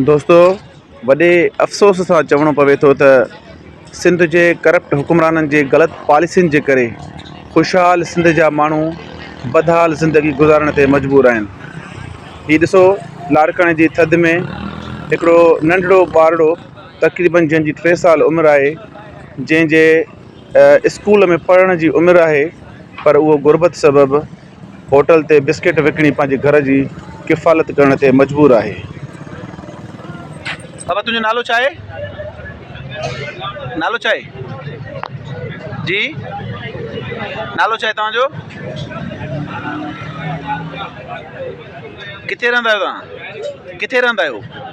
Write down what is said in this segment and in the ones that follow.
دوستو وڏي افسوس سان چوڻو پوي ٿو ته سنڌ جي ڪرپٽ حڪمرانن جي غلط پاليسين جي ڪري خوشحال سنڌ جا ماڻهو بدحال زندگي گذارڻ تي مجبور آهن هي ڏسو لاڙڪاڻي جي ٿڌ ۾ هڪڙو ننڍڙو ٻارڙو تقريبن جنهن جي ٽي سال عمر آهي جنهن جي اسڪول ۾ پڙهڻ جي عمر آهي پر اهو غربت سبب هوٽل تي بسڪيٽ وڪڻي پنهنجي گهر جي ڪفالت ڪرڻ تي مجبور آهي. بابا تنهنجو نالو ڇا آهي؟ نالو ڇا آهي؟ جي نالو ڇا آهي توهان جو؟ ڪٿي رهندا آهيو توهان؟ ڪٿي رهندا آهيو؟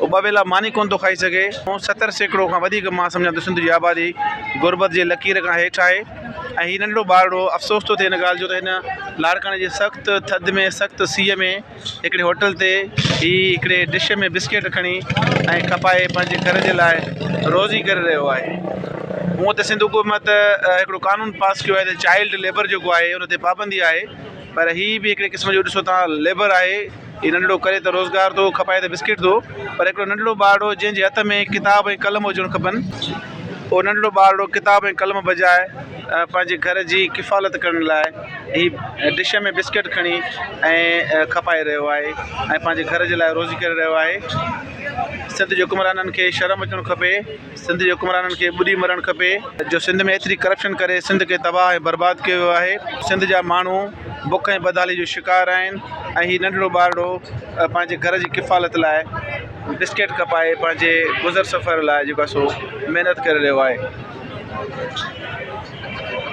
هو ٻه ويلا ماني ڪونه ٿو کائي سگهي. ستر سيڪڙو کان وڌيڪ مان سمجهان ته سنڌ جي آبادي غربت جي لڪير کان هيٺ آهي ۽ هي ننڍڙو ٻارڙو افسوس ٿو ٿئي ان ڳالهه جو ته هن لاڙڪاڻي جي سخت ٿڌ ۾ سخت سيء ۾ هڪڙي هوٽل تي هي هڪڙي ڊش ۾ بسڪيٽ کڻي ۽ کپائي پنهنجي گهر جي لاء روزي ڪري رهيو آهي. هونء ته سنڌ حڪومت هڪڙو قانون پاس ڪيو آهي ته چائلڊ ليبر جيڪو آهي ان تي پابندي آهي پر هي به هڪڙي قسم جو ڏسو تان ليبر آهي. هي ننڍڙو ڪري ته روزگار ٿو کپائي ته بسڪيٽ ٿو پر هڪڙو ننڍڙو ٻارڙو جنهن جي هٿ ۾ ڪتاب ۽ قلم هجڻ کپن اهو ننڍڙو ٻارڙو ڪتاب ۽ قلم بجاء پنهنجي گهر جي ڪفالت ڪرڻ لاء هي ڊش ۾ بسڪيٽ کڻي ۽ کپائي رهيو آهي ۽ پنهنجي گهر جي لاء روزي ڪري رهيو آهي سنڌ جي حڪمرانن کي شرم اچڻ کپي سنڌ جي حڪمرانن کي ٻڏي مرڻ کپي جو سنڌ ۾ ايتري ڪرپشن ڪري سنڌ کي تباهه ۽ برباد ڪيو ويو آهي سنڌ جا ماڻهو بک ۽ بدحالي جو شڪار آهن ۽ هي ننڍڙو ٻارڙو پنهنجي گهر جي ڪفالت لاء بسڪيٽ کپائي پنهنجي گذر سفر لاء جيڪو آهي سو محنت ڪري رهيو آهي